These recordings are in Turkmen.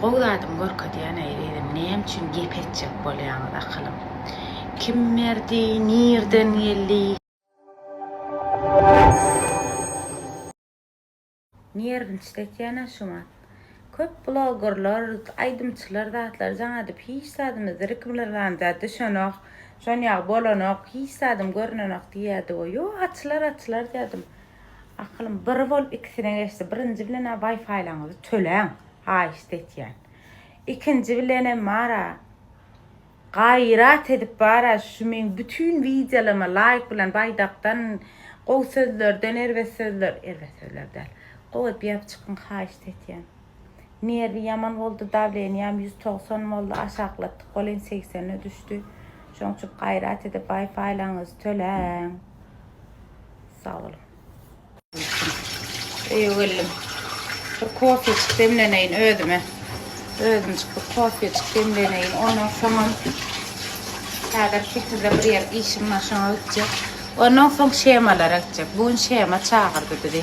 Gowy zadyň görkezýän eý gyzym näme üçin gep etjek bolýaňyz akylym kim berdi nirden geldi. Nerwinçde ekena şu mat. Köp blogerler aýdymçylar zatlar jaňadyp hiç zadymyz zirikmlrlanja düşenok şonýagy bolanok hiç zadym görnenok diýýädigo ýo açylar açylar dýädim. Akylym bir bolup ikisine geçdi. Birinji bilen-ä Wi-Fi-laryňyzy töläň, haýyşt etýän. Ikinji bilenem bar-a, gaýrat edip bar-a şu meň bütin wideolaryma laýk bilen baýdakdan, gowy sözlerden erbet sözler, erbet sözler däl, gowy edýäp çykyň haýyşt etýän. Nerwi ýaman boldy, dawleniýam ýüz togsan boldy, aşaklatdyk boleýin segsene düşdi. Şoň üçin gaýrat edip waýfaýlaryňyzy töläň. Sag boluň. Öýe geldim. Bir kofejik demleneýin özüme. Özümjik bir kofejik demleneýin. Ondan soňam häzir sekizde bir ýer işim bar, şoňa gitjek. Ondan soň shemalara gitjek. Bu gün shema çagyrdy bizi.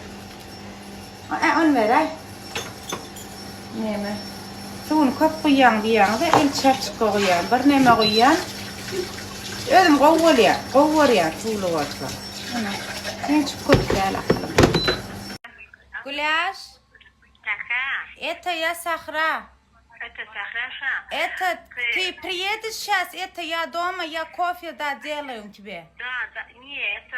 Ä, un beräý. Näme? Suwuny köp guýýaň diýýäňiz-de, ölçäp çykga guýýan. Birneme guýýan. Özüm gowy bolýar. Gowy görýän suwly bolsa. Ene, ençip köp däl aslym. Güläş. Kaka. Eto ýa Sahra? Eto Sahra şa. Eto, ty priýediş şas eto ýa doma ýa kofýe da delaýun tibe. Da, da, nie, eto.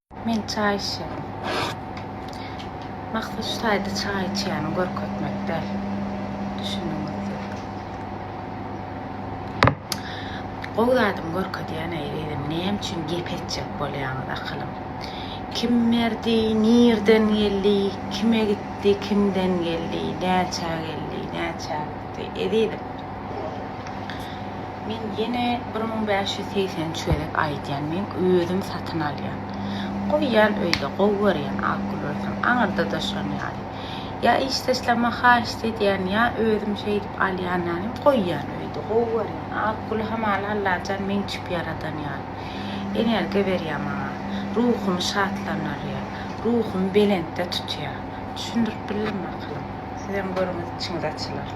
Men çaý içýän. Maksat şu taýda çaý içýäni görkezmek däl. Düşündiňizmi? Gowy zadymy görkezýän ezizim. Näme üçin gep etjek bolýaňyz akylym? Kim berdi, nirden geldi, kime gitdi, kimden geldi, näçä geldi, näçä gitdi? Bereketli ezizim. Men ýene bir müň bäş ýüz segsen üç gezek aýdýan, men özüm satyn alýan. Goýýan öýde, gowy görýän akgül bolsaň, aňyrda-da şon ýaly. Ýa işdeşlerime haýyşt edýän, ýa özüm şeýdip alýan ýanym, goýýan öýde, gowy görýän akgüli hamala Allajan meň üçip ýaradan ýaly. Energiýa berýär maňa. Ruhumy şatlandyrýar. Ruhumy belentde tutýar. Düşündirip bildim akylym. Sizem görüňiz içiňiz açylar.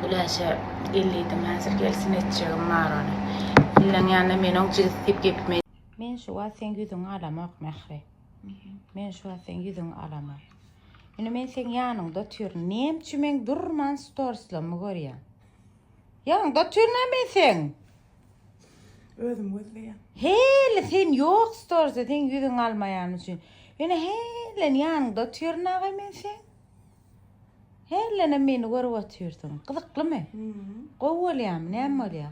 Güläşe ellidim häzir gelsin etjegim bar ony. Illeň ýanynda men oň jigisi diýip gepime. Men şu wagt seň ýüzüňi alamok Mähri. Men şu wagt seň ýüzüňi alamok. Indi men seň ýanyňda otyryn. Näme üçin men durman storslamy görýän? Ýanyňda otyryn-a men seň. Özüm gözleýän. Heli sen ýok storze sen ýüzüň almaýan üçin. Ýöne helen ýanyňda otyryn aga men sen. Helenem meni görüp otyrsyň. Gyzyklymy? Gowy bolýamy? Näme bolýa?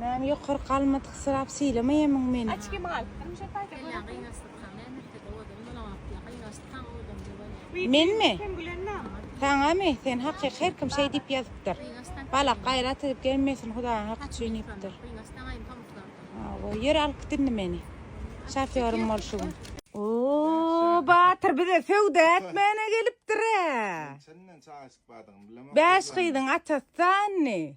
Näme ýokarky almatyk syrap sylamayamyň meni. Açki mal. Hemşe paýta görüp. Kelle gyňaşdyk ha. Näme etdik owadan bolan wagtda gyňaşdyk ha owadan bolany. Menmi? Sen gülen name? Saňamy? Sen hakyk her kim şeý diýip ýazypdyr. Balak gaýrat edip gelmesin hudaýyň haky üçin diýipdir. Hawa ýör alkyt indi meni. Şofýorym bol şu gün. Ooh Batyr bize söwda etmäne gelipdir-ä. Çenlän çaýyşyk bardygyny bilemok. Bäş gyzyň atasy sandy?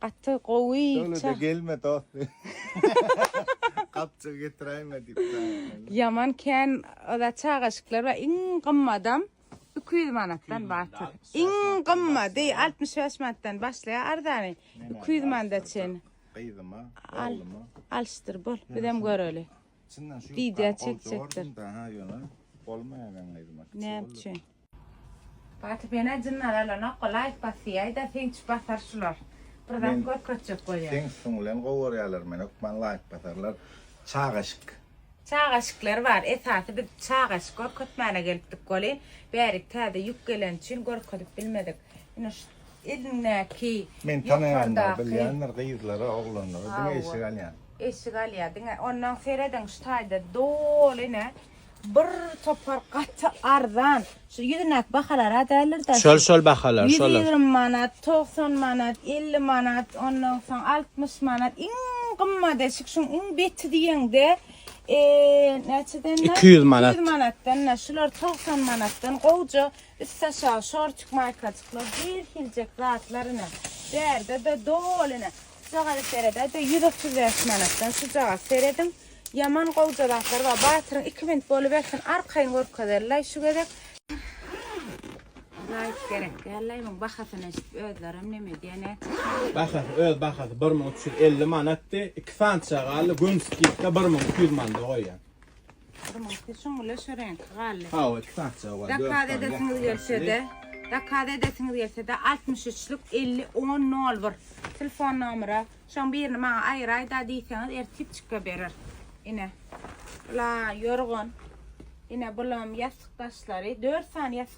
Gaty gowy Dowlede gelme dost gapjygy getiräýme diýip daýanmaly. Ýaman kän oda çagaşyklar bar iň gymmadam iki ýüz manatdan batyr iň gymmady altmyş bäş manatdan başlaýar arzany iki ýüz manda çen gyzyma oglyma alşdyr bol bizem göreli wideo çekjekdir näme üçin. Batyp ene jynlar alanokga laýk basýaýda synçy basar şular bir zat görkezjek bolýa. Seň üstüň bilen gowarýalar men hökman laýk basarlar çagaşyk. Çagaşyklar bar esasy biz çagaşyk görkezmäne gelipdik weli bärik täze ýük geleni üçin görkezip bilmedik ine şu elindäki Men tanaýanlar bilýändir gyzlara oglanlara diňe eşik alýan. Eşik alýa diňe ondan serediň şu taýda doly ine Bir topar gaty arzan. Şu ýüzündäki bahalar-a däldir-dä. Şol, şol bahalar, şolar. Ýüz ýigrimi manat, togsan manat, elli manat, ondan soň altmyş manat. Iň gymmat eşik şuň iň beti diýeňde, näçeden? Iki ýüz manat. Iki ýüz manatdan. Şular togsan manatdan gowja üstaşagy şortik maýkajyklar, her hiljek zatlar ine. Bärde-de doly ine. Şujagaty seredä de ýüz otuz bäş manatdan şujagat serediň ýaman gowja zatlar bar batyryň iki minut bolubersin arkaýyn görkezerlaý şu gezek. Laýk gerek dällaý muň bahasyny eşidip özlerem neme diýen nätjekler. Bahasy öz bahasy bir müň üç ýüz elli manatdy iki santyja galdy gün skidka bir müň iki ýüz manda goýýan. Gyrmyňky şuň bile şu reňki galdy. Hawa, iki parça galdy. Zakaz edesiňiz gelse-de, zakaz edesiňiz gelse-de 63-lük 50 10 01 telefon nomeri. Şoň birini maňa aýyraýda diýseňiz, ertip çyka berer. Ine. La yorgun. Ine bulam ýassyk daşlary. 4 sany ýassyk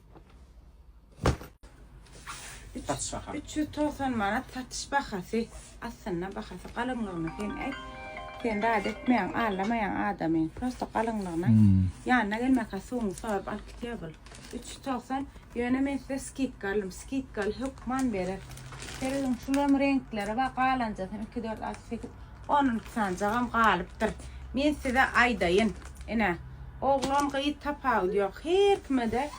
Satyş bahasy. 390 manat satyş bahasy. Aslynda bahasy galyňlygyny sen aýt. Sen zat etmeýän, allamaýan adamy. Prosta galyňlygyna. Hmm. Ýanyna gelmäkä suwuňy sorup alyp gitýär bul. 390. Ýöne men size skidka aldym. Skidkaly hökman berer. Seredin şulam reňkleri bar, galanjasy 2 4 6 8. On iki sanjagam galypdyr. Men size aýdaýyn. Ine, oglan, gyz tapawudy ýok. Her kime-de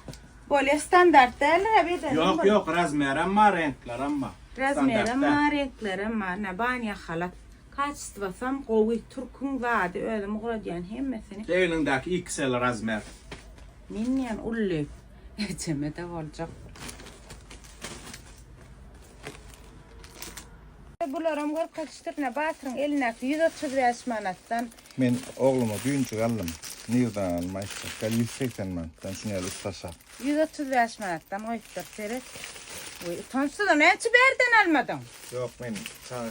bolýa. Standart däldir-ä bedeniň. Ýok, ýok, razmerem bar, reňklerem bar. Razmerem bar, reňklerem bar. Ine, banýa halat. Kaçystwasam gowy. Türküň zady, özüm ugradýan hemmesini. Egnindäki XL razmer. Men diýen uly. Ejeme-de boljak. Bularam görke çytyryna batyryň elindäki ýüz otuz bäş manatdan. Men ogluma düýnjik aldym. Nirden aldym aýtsak gal ýüz segsen manatdan şuny el ussasa. Ýüz otuz bäş manatdan goýupdyr seret. Utançsyzam näçe bärden almadyň. Ýok men çaga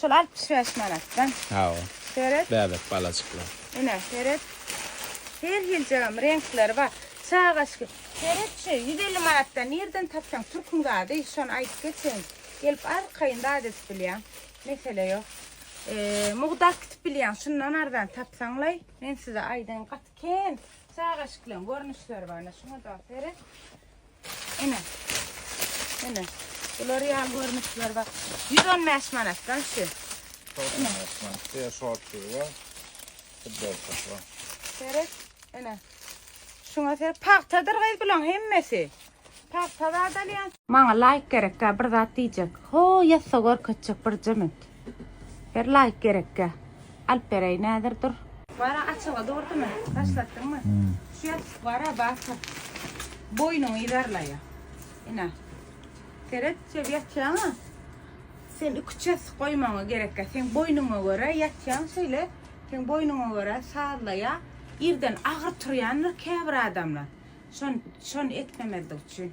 Şol altmyş bäş manatdan. Hawa. Seret. Bäbek balajyklar. Ine, seret. Her hiljegem reňkleri bar. Çagaşki. Seret şu, ýüz elli manatdan nireden tapsaň türküň zady, şony aýdyp geçeýin. Gelip arkaýyn zat edip bilýäň. Mesele ýok. Mugdap gitip bilýäň, şundan arzan tapsaňlaý. Men size aýdaýyn, gaty kän çagaşkileň görnüşleri bar. Ine, şuňa-da seret. Ene. Ene. Bular ýaly görmüşler bak. 115 manat da şu. Ene. Şeýle şort diýip bar. Futbolka bar. Seret. Ene. Şuňa ser pagtadyr gyz bulan hemmesi. Pagtada adalýan. Maňa laýk gerek, bir zat diýjek. Ho, ýassa görkezjek bir jemit. Her laýk gerekge. Alyp bereý nädir dur. Wara açyga durdymy başlatdyňmy şu ýapyk wara batyr boýnuňy ýerlaýa ine seret şeýle ýatýaňa sen iki çes goýmagyňa gerekge seň boýnuňa görä ýatýaň şeýle seň boýnuňa görä sazlaýa irden agyr turýandyr käbir adamlar şon şon etmemezlik üçin.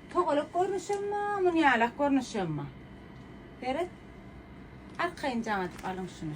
Togalak görnüşemmi, munýalak görnüşemmi? Seret. Arkaýyn jaň edip alyň şuny.